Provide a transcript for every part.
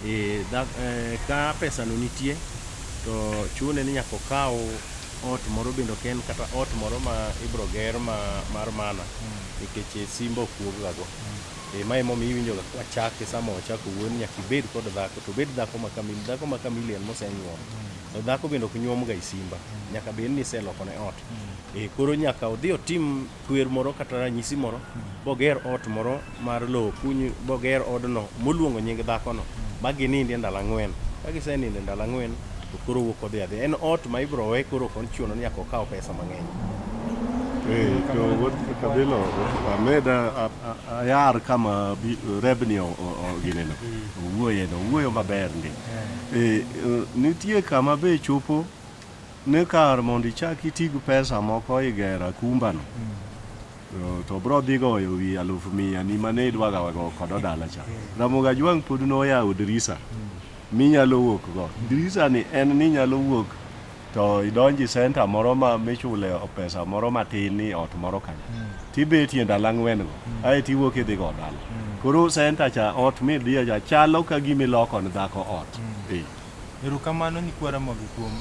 E, da, e, ka pesano nitie to chune ni nyaka okaw ot moro bende ok en kata ot moro ma ibro ger ma, mar mana mm. nikech mm. simba ok wuoggago mm. e, ma emomiyo iwinjoga kwachake sama wachako wuon nyaka ibed kod dhako to bed dhako ma kamili dhako ma kamili en mosenyuom mm. to dhako bende ok nyuomga e simba mm. nyaka bed ni iselokone ot E, koro nyaka odhi otim kwer moro kata ranyisi moro boger ot moro mar lowo kuny boger odno moluongo nying dhakono ma ginindie ndalo ang'wen ka giseninde ndalo ang'wen to koro wuok odhi adhi en ot ma ibro we koro ok ochuno ni nyaka okaw pesa mang'eny Eh, to wuod kabilo ameda a- a- ayar kama bi- rebni o- o- o- gineno owuoyeno owuoyo maber ndi Eh, eh, nitie kama be chopo ni kar mondo ichak iti gi pesa moko e gero akumbano, to bro dhi goyo wi alufu mia ni mane idwaga wago kodo dala cha. Ramogi Ajwang' pod noyawo dirisa minyalo wuok go. Dirisa ni en ni inyalo wuok to idonji center moro ma michule pesa moro matin ni ot moro kanyo. Tibetie ndalo ang'wen go, ae tiwuok idhi go dala. Koro center cha ot midhiye cha chalo ka gima iloko ne dhako ot. Ee. Erokamano nyikwa Ramogi kuom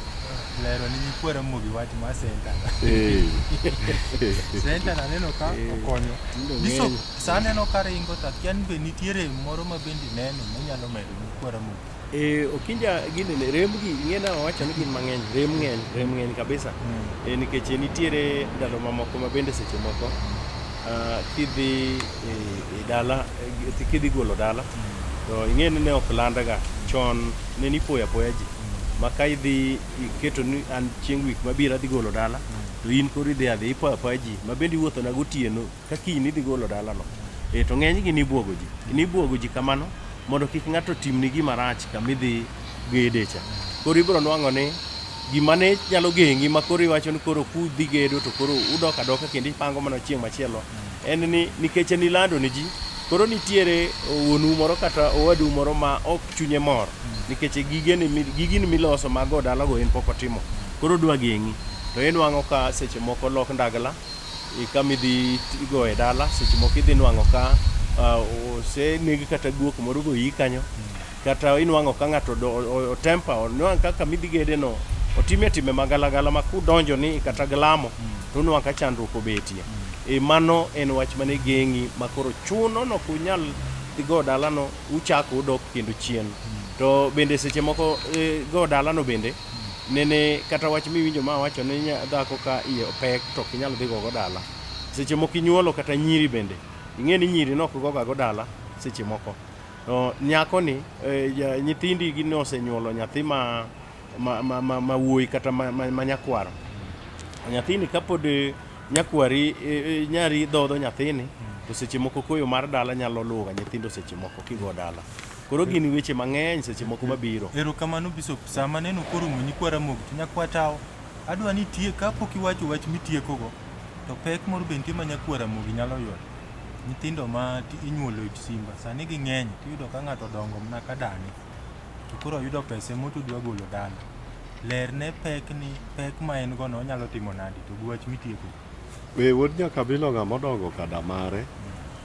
lero ne nyikwa Ramogi wach mar center. Center na neno ka okonyo. Diso sa aneno ka ringo to akia ni be nitiere moro ma bende ineno manyalo medo nyikwa Ramogi. E, okinja gini ne rembgi ing'ena wawacho ni gin mang'eny rem ng'eny rem ng'eny kabisa e, nikech nitiere ndalo mamoko ma bende seche moko ah, kidhi e, e dala kidhi golo dala to ing'e ni ne ok landaga chon ne nipoyo apoya ji ma ka idhi iketo ni an chieng' wik mabiro adhi golo dala to in koro idhi adhi ipoyo apoya ji ma bende iwuothona gotieno ka kiny nidhi golo dalano e to ng'enygi nibwogo ji nibwogo ji kamano mondo kik ng'ato timni gima rach kama idhi gede cha koro ibiro nwang'o ni gima ne nyalo gengi ma koro iwacho ni koro kudhi gedo to koro udok adoka kendo ipango mana chieng' machielo en ni nikech nilando ne ji, koro nitiere wuonu moro kata owadu moro ma ok chunye mor nikech gigeni mi- gigini miloso mag go dalago en pok otimo koro odwa geng'i to inwang'o ka seche moko lok ndagla i kama idhi tigo e dala seche moko idhi nwang'o ka ah, oseneg kata guok moro goyi kanyo kata inwang'o ka ng'ato odo- o- o- otempa onwang' kaka midhi gede no otime time magalagala ma kudonjo ni kata glamo to onwang' ka chandruok obetie e mano en wach mane geng'i ma koro chuno no kunyal dhi go dalano uchako udok kendo chien to bende seche moko e, go dalano bende nene kata wach miwinjo ma wacho ni nya- dhako ka iye pek to ok inyal dhi gogo dala seche moko inyuolo kata nyiri bende ing'e ni nyiri ne ok gogago dala seche moko Nyako ni eh, nyithindi gi osenyuolo nyathi ma ma ma ma, ma wuoyi kata ma, ma, ma nyakwaro. Nyathini kapod eh, nyakwari eh, eh, nyari dhodho nyathini to seche moko koyo mar dala nyalo luwo nyithindo seche moko kigo dala. Koro gin weche mang'eny seche moko mabiro. Erokamano Bishop, sama neno koro mwenyi kwara mog to nyakwatawo, adwa ni tie kapok iwacho wach mitiekogo, to pek moro be nitie ma nyakwara mogi nyalo yudo. nyithindo ma inyuolo e simba sani ging'eny to iyudo ka ng'ato odongo mana ka dani to koro oyudo pesa ema to odwa golo dala. Lerne pek ni pek ma en go no onyalo timo nade to gi wach ma itieko go. Be wuod nyakabilo ng'ama odongo ka da mare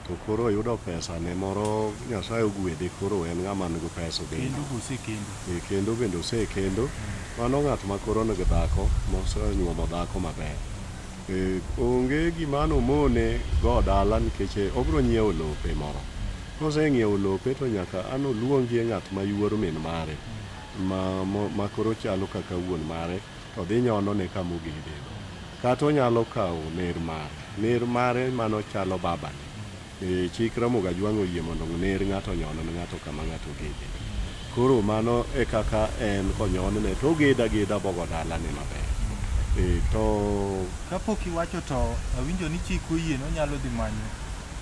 to koro oyudo pesa ne moro Nyasaye ogwedhe koro en ng'ama nigi pesa obet. Kendo be osekendo. Ee kendo bende osekendo. Mano ng'at makoro nigi dhako mose onyuomo dhako maber. Onge gima nomone go dala nikech obiro nyiewo lope moro. Koseng'iewo lope to nyaka an oluongie ng'at ma yuor min mare ma koro chalo kaka wuon mare to dhi nyonone kama ogedeno. Kata onyalo kawo ner mare, ner mare mano chalo babane Eh, chik Ramoga Jwang' oyie mondo ng'ner ng'ato onyon ne ng'ato kama ng'ato ogede. Koro mano e kaka en konyonne to ogeda ageda bogo dalane maber. Eh, to Kapok iwacho to awinjo ni chik oyie ni onyalo dhi manyo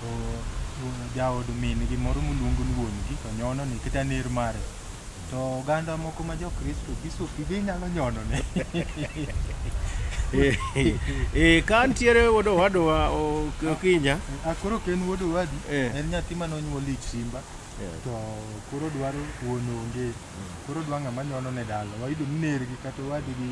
o- o- jaod min-gi moro moluongo ni wuon-gi to nyonone kata ner mare. To oganda moko ma Jokristo bisopi be inyalo nyonone. Eh, ka ntiere wuod owadwa o- Okinja. Ah, Koro ok en wuod owadu, Eh. en nyathi ma nonyuol ich simba. Yeah. To koro dwaro wuon onge. Koro dwa ng'ama nyono ne dala. Wayudo ni nergi kata owadgi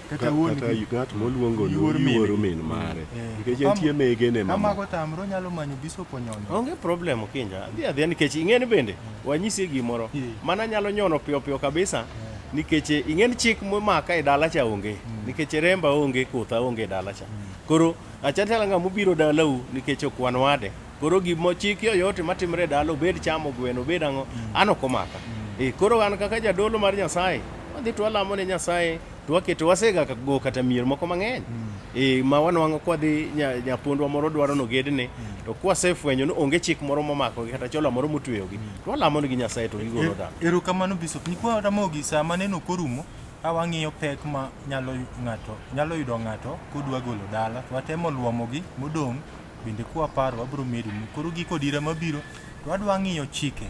kata Ka- wuon kata gi ng'at moluongo ni Yuor min yuoro gi. min mare Eh. nikech Kama- entie mege ne kama mama go tamre onyalo manyo bishop onyono onge problem kinja adhi adhiya nikech ing'eni bende wanyisi gimoro Eh. mana nyalo nyono piyo piyo kabisa nikech ing'eni chik momaka e dala cha onge nikech remba onge kotha onge e dala cha koro achatalanga mobiro dalau nikech ok wan wade Koro gima ochiki yoyote matimre e dala obed chamo gweno obed ang'o mm. an ok omaka. Mm. Eh, koro an kaka jadolo mar Nyasaye wadhi to walamo ne Nyasaye to waketo wasega go kata mier moko mang'eny mm. eh, ma wanwang'o kwadhi nyapondwa moro dwaro nogedne to kwasefwenyo ni onge chik moro momako gi kata chola moro motweyogi to walamo negi Nyasaye to gigolo dala. Erokamano Bishop nikwa Ramogi sama neno korumo ka wang'iyo pek ma nyalo ng'ato nyalo yudo ng'ato kodwa golo dala watemo luomogi modong' Bende kwaparo wabiro medonu. Koro giko dira mabiro to adwa ng'iyo chike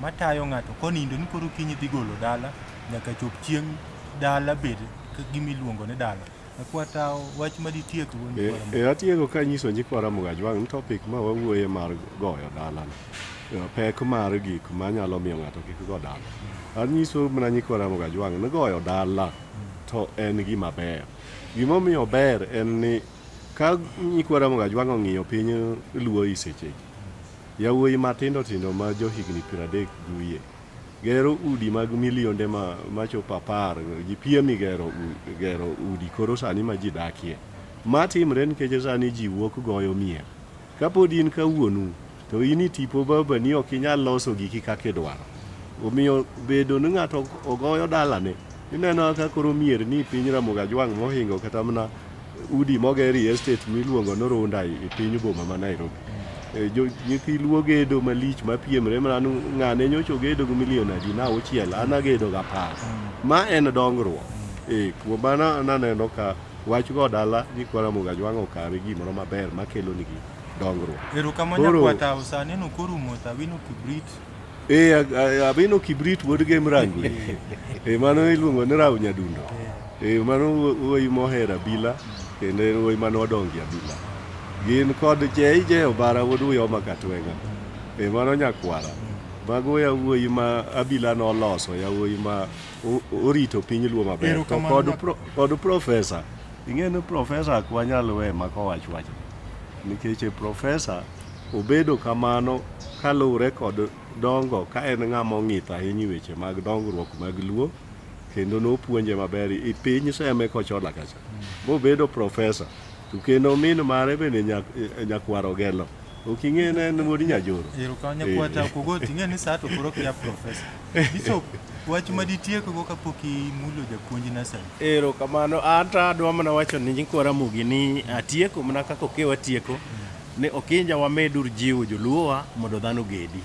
matayo ng'ato konindo ni koro kiny idhi golo dala nyaka chop chieng' dala bed gimiluongo ni dala. Akwata wach ma ditiek go ni kwara. E, atieko ka nyiso nyikwa Ramogi Ajwang' ni topic ma wawuoye mar goyo dala ni, pek mar gik manyalo miyo ng'ato kik go dala. Anyiso mana nyikwa Ramogi Ajwang' ni goyo dala to en gima ber. Gimomiyo ober en ni Ka nyikwa Ramogi Ajwang' ong'iyo piny Luo i sechegi, yawuoyi matindo tindo ma johigni piero adek gi wiye gero udi mag milionde machopo apar ji piem i gero udi koro sani ma ji dakie. Ma timre nikech sani ji wuok goyo mier Kapod in ka wuonu, to in i tipo babani ok inyal loso giki kaka idwaro. Omiyo bedo ni ng'ato ogoyo dalane, ineno ka koro mier ni piny Ramogi Ajwang' mohingo kata mana udi moger i estate miluongo ni Runda i piny boma ma Nairobi. E, jo- Nyithi luo gedo malich mapiemre mana ni ng'ane nyocha ogedo gi milion adi na auchiel, an agedo gi apar. Ma en dongruok. E, kuom mano naneno ka Wach go dala nyikwa Ramogi Ajwang' okawe gimoro maber makelonigi dongruok. Erokamano Koro- nyakwar Tao, sani en ok orumo to Awino Kibrit. Eh, a- a- Abino Kibrit wuod Gem Rangwe. Eh, mano iluongo ni Rao Nyadundo. Eh, mano wuo- wuoyi mohero abila kendo en wuoyi mane odongie abila. Gin kod JJ Obara wuod Uyoma Katwenga. Eh, mano nyakwara. Mago yawuoyi ma abila noloso, yawuoyi ma orito piny luo maber kod profesa ing'e ni profesa ok wanyal we maka owach wach nikech profesa obedo kamano kaluwre kod dongo ka en ng'ama ong'ith ahinya weche mag dongruok mag luo kendo nopuonje maber i piny seme kochola kacha mobedo profesa to kendo min mare bende nyakwar ogelo Oking'e ne en wuod Nyajoro. Ero ka nyakwata Eh. kogoti ing'e ni saa to koro kia profesa. Bishop wach ma ditiekgo kapok imulo japuonj nasari. Ero kamano anta adwa mana wacho ni nyikwa Ramogi ni atieko mana kaka okewa tieko ni Okinja wamedur jiwo joluowa mondo dhano ogedi.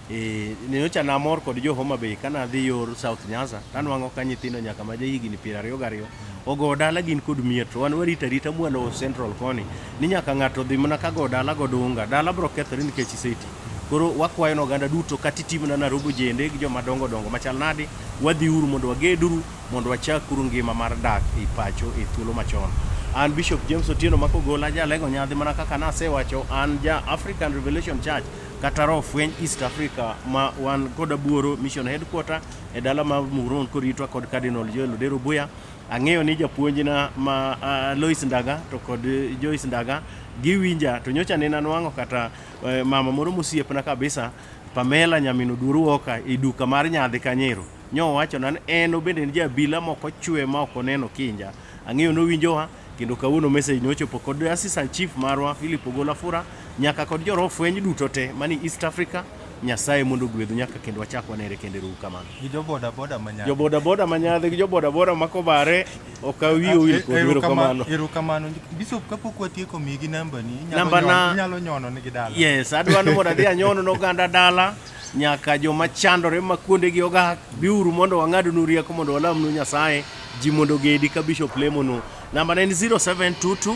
Eh, nyocha namor kod jo Homa Bay kana adhi yor South Nyanza tanwang'o ka nyithindo nyaka ma jahigni piero ariyo gariyo ogo dala gin kod mier to wan warita rita mwalo Central koni ni nyaka ng'ato dhi mana ka go dala go dunga dala bro kethore nikech iseti koro wakwayo na oganda duto kata itimna na robo jende gi joma dongo dongo machal nadi wadhi uru mondo wageduru mondo wachak uru ngima mar dak e pacho e thuolo machon an Bishop James Otieno makogola jalego nyadhi mana kaka nasewacho an ja African Revelation Church kata roho fweny East Africa ma wan kod Abuoro Mission Headquarter e dala ma Muhoroni koritwa kod Cardinal Joel Odero Buya. Ang'eyo ni japuonjna ma uh, Lois Ndaga to kod Joyce Ndaga giwinja to nyocha ne nanwang'o kata uh, mama moro mosiepna kabisa Pamela nyamin Oduoru Oka e duka mar nyadhi Kanyero nyowacho nan en obende en jabila moko chwe ma ok oneno kinja ang'eyo nowinjowa Kendo kawuono message ne ochopo kod Assistant Chief marwa Philip Ogola Fura nyaka kod joro fweny duto te mani East Africa Nyasaye mondo ogwedhu nyaka kendo wachak wanere kendo erouru kamano. Gi jo boda boda manyaka. Jo boda boda manyadhi gi jo boda boda makobare ok awi owil kod wero kamano. Ero kamano. Bishop kapok watieko migi namba ni inyalo nyono nigi dala. Yes, adwaro mondo adhi anyono noganda dala. Nyaka joma chandore ma kuondegi ogak, biuru mondo wang'adnu rieko mondo walamnu Nyasaye, ji mondo ogedi ka bishop lemonu. Nambana en 0722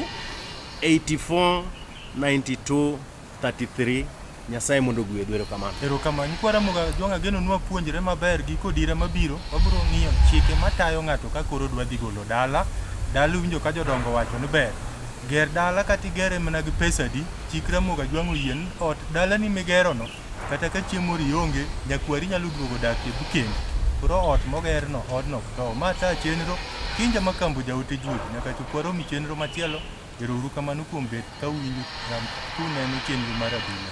84 92 33. Nyasaye mondo ogwedhu. Erokamano. Erokamano. Nyikwa Ramogi Ajwang' ageno nwa puonjre maber giko dira mabiro wabiro ng'iyo chike matayo ng'ato ka koro dwa dhi golo dala. Dala iwinjo ka jodongo wacho ni ber. Ger dala kata igere mana gi pesa adi, chik Ramogi Ajwang' oyie ni ot, dalani migerono, Kata ka chieng' moro ionge, jakwari nyalo duogo dak e bkendi. Koro ot mogerno, odno ok tow. Ma taa chenro, Kinja ma Kambo jaote juogi. Nyaka chop waromi chenro machielo, ero uru kamano kuom bet ka uwinjo kram kuneno chenro mar adhula.